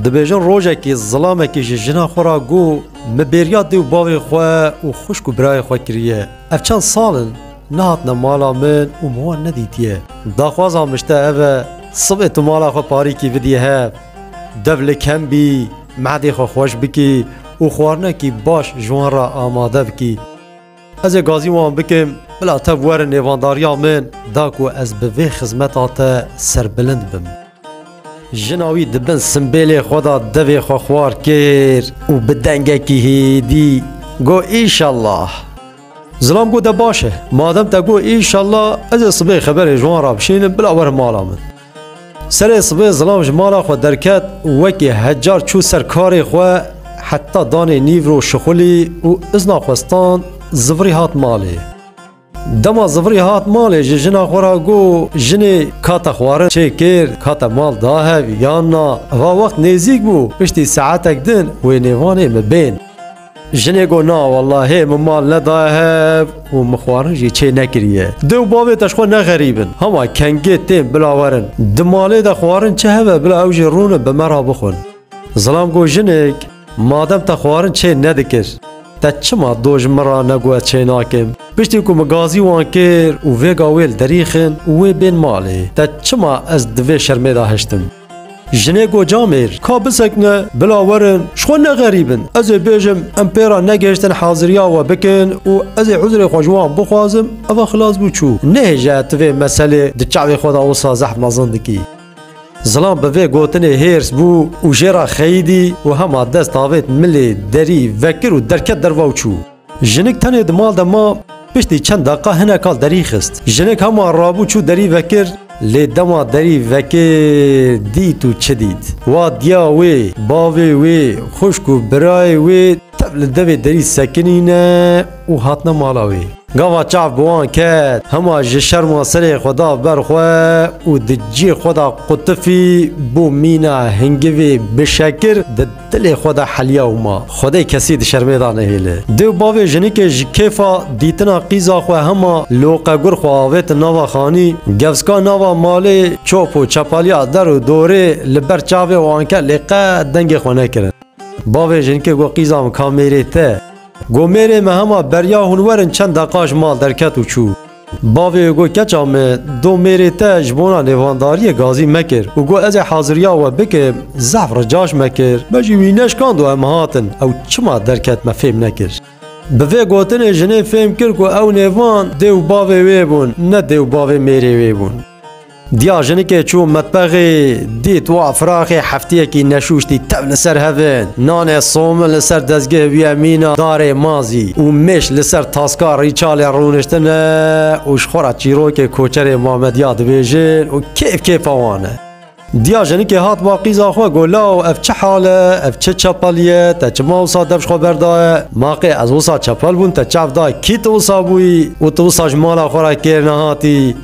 Dibêjin rojekê zilamekê ji jina xwe ra got min bêriya dê û bavê xwe û xwişk û birayê xwe kiriye. Ev çend sal in nehatine mala min û min wan nedîtiye. Daxwaza min ji te ev e sibê tu mala xwe parîkî bidî hev. Dev li kem bî, mehdê xwe xweş bikî û xwarinekî baş ji wan re amade bikî. Ez ê gazî wan bikim, bila tev werin nêvandariya min da ku ez bi vê xizmeta te serbilind bim. Jina wî di bin simbêlê xwe de devê xwe xwar kir û bi dengekî hêdî got Îşellah. Zilam got De baş e, madem te got Îşellah, ez ê sibê xeberê ji wan re bişînim bila werin mala min. Serê sibê zilam ji mala xwe derket û wekî hecar çû ser karê xwe heta danê nîvro şixulî û izna xwe stand zivirî hat malê. Dema zivirî hat malê ji jina xwe re got, Jinê ka te xwarin çêkir ka te mal da hev yan na, va wext nêzîk bû piştî saetek din wê nêvanê min bên. Jinê got na wela hê min mal nedaye hev û min xwarin jî çê nekiriye. Dê û bavê te ji xwe nexerîbin. Hema kengê tên bila werin. Di malê de xwarin çi hebe bila ew jî rûnin bi me re bixwin. Zilam got jinik madem te xwarin çê nedikir te çima do ji min re negu ez çê nakim. Piştî ku min gazî wan kir û vêga wê li derî xin û wê bên malê te çima ez di vê şermê de hiştim. Jinê got camêr ka bisekine bila werin ji xwe nexerîbin. Ez ê bêjim em pê re negihiştin haziriya we bikin û ez ê uzrê xwe ji wan bixwazim eva xilas bû çû. Nehêje tu vê meselê di çavê xwe de wisa zehf mezin dikî. Zilam bi vê gotinê hêrs bû û jê re xeyidî û hema dest avêt milê derî vekir û derket derva û çû. Jinik tenê di mal de ma, piştî çend deqa hinek al derî xist. Jinik hema rabû çû derî vekir, lê dema derî vekir dît û çi dît. Wa diya wê, bavê wê, xwişk û birayê wê tev li devê derî sekinîne û hatine mala wê. Gava çav bi wan ket, hema ji şerma serê xwe da ber xwe û di cî xwe da qutifî bo mîna hingivê bişekir di. Dilê xwe de heliya û ma, Xwedê kesî di şermê de nehêle. Dê û bavê jinikê ji kêfa dîtina qîza xwe hema loqegur xwe avêtin nava xanî, gevska nava malê çop û çepaliya der û dorê li ber çavê wan ket lê qet dengê xwe nekirin. Bavê jinikê got qîza min ka mêrê te. Got mêrê min hema beriya hûn werin çend deqa ji mal derket û çû. Bavê û got, Keça me, do mêrê te ji bona lêvandariyê gazî mekir û got, Ez ê haziriya we bikim, zehf ricaş me kir, me jî wî neşkand û em hatin, ew çima derket me fêm nekir. Bi vê gotinê jinê fêm kir ku ew nêvan dê û bavê wê bûn, ne dê û bavê mêrê wê bûn. Diya jinikê çû metbexê, dît wa firaxê hefteyekî neşûştî tev li ser hev in. Nanê somin li ser dezgeh bûye mîna darê mazî û mêş li ser taska rîçalê rûniştin e û ji xwe re çîrokê koçerê Mamediya dibêjin û kêf kêfa wan e. Diya jinikê hat ba qîza xwe got, Law ev çi hal e, ev çi çepelî ye, te çima wisa dev ji xwe berdaye? Ma qê ez wisa çepel bûm, te çav dayê kî tu wisa bûyî û tu wisa ji mala xwe re kêr nehatî?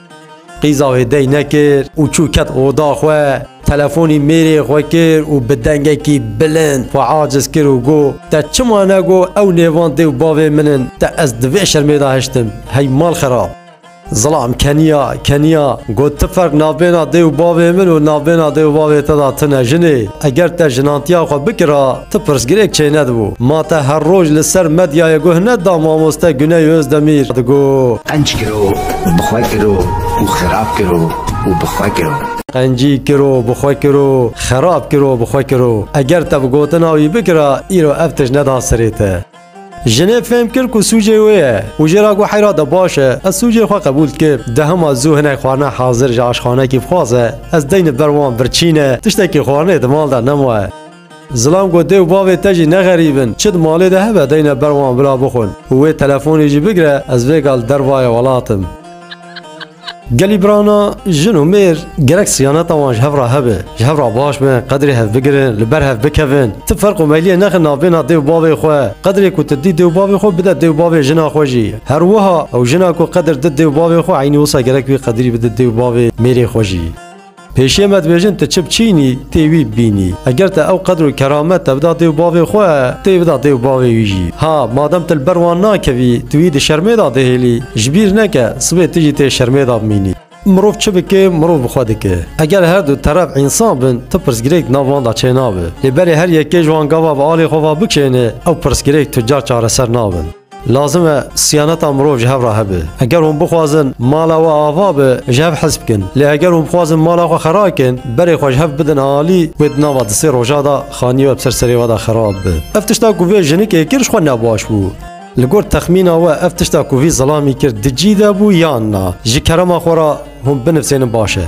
Qîza wê dey nekir û çû ket oda xwe. Telefonî mêrê xwe kir û bi dengekî bilind xwe aciz kir û got, Te çima negot ew nêvan dê û bavê min in, te ez di vê şermê de hiştim, hey mal xirab! Zilam keniya keniya got, Ti ferq navbêna dê û bavê min û navbêna dê û bavê te de tune jinê. Eger te jinantiya xwe bikira, Ti pirsgirêk çênedibû. Ma te her roj li ser medyayê guh neda mamoste Guney Ozdemîr digot. Qenc kiro, bi xwe kiro û xerab kiro û bi xwe kiro. Qencî kiro, bi xwe kiro, xerab kiro, bi xwe kiro. Eger te bi gotina wî bikira, îro ev tişt neda serê te. Jinê fêm kir ku sûcê wê ye û jê ra got heyra de baş e, ez sûcê xwe qebûl dikib. Dehema zû hinek xwarina hazir ji aşxanekî bixwaze, ez deynim ber wan birçîne, tiştekî xwarinê di mal de nemaye. Zilam got dê û bavê te jî ne xerîb in, çi di malê de hebe deyne ber wan bila bixwin û wê telefonê jî bigire ez vê gal dervayê welat im. Gelî birana jin û mêr gerek siyaneta wan ji hev re hebe, ji hev re baş bin, qedrê hev bigirin, li ber hev bikevin. Ti ferq û meyliyê nexin navbêna dê û bavê xwe. Qedrê ku tu dî dê û bavê xwe bide dê û bavê jina xwe jî. Her wiha ew jina ku qedr di dê û bavê xwe eynî wisa gerek wî qedrî bide dê û bavê mêrê xwe jî. Pêşiye me dibêjin tu çi biçînî tê wî bibînî. Eger te ew qedr û keramet te bida dê û bavê xwe, tê bida dê û bavê wî jî. Ha madem tu li ber wan nakevî, tu wî di şermê de dihêlî, ji bîr neke sibê tu jî tê şermê de bimînî. Mirov çi bike, mirov bi xwe dike. Eger her du teref însan bin, tu pirsgirêk di nav wan de çênabe. Lê berê her yekê ji wan gava bi alê xwe ve bikşêne, ew pirsgirêk tu car çareser nabin. Lazim e siyaneta mirov ji hev re hebe. Eger hûn bixwazin mala we ava be, ji hev hez bikin. Lê eger hûn bixwazin mala xwe xera bikin, berê xwe ji hev bidin alî, wê di nava di sê roja de xanî we bi ser serê we de xera bibe. Ev tişta ku vê jinikê kir ji xwe ne baş bû. Li gor texmîna we ev tişta ku vî zilamî kir di cî de bû yan na? Ji kerema xwe re hûn binivsênin baş e.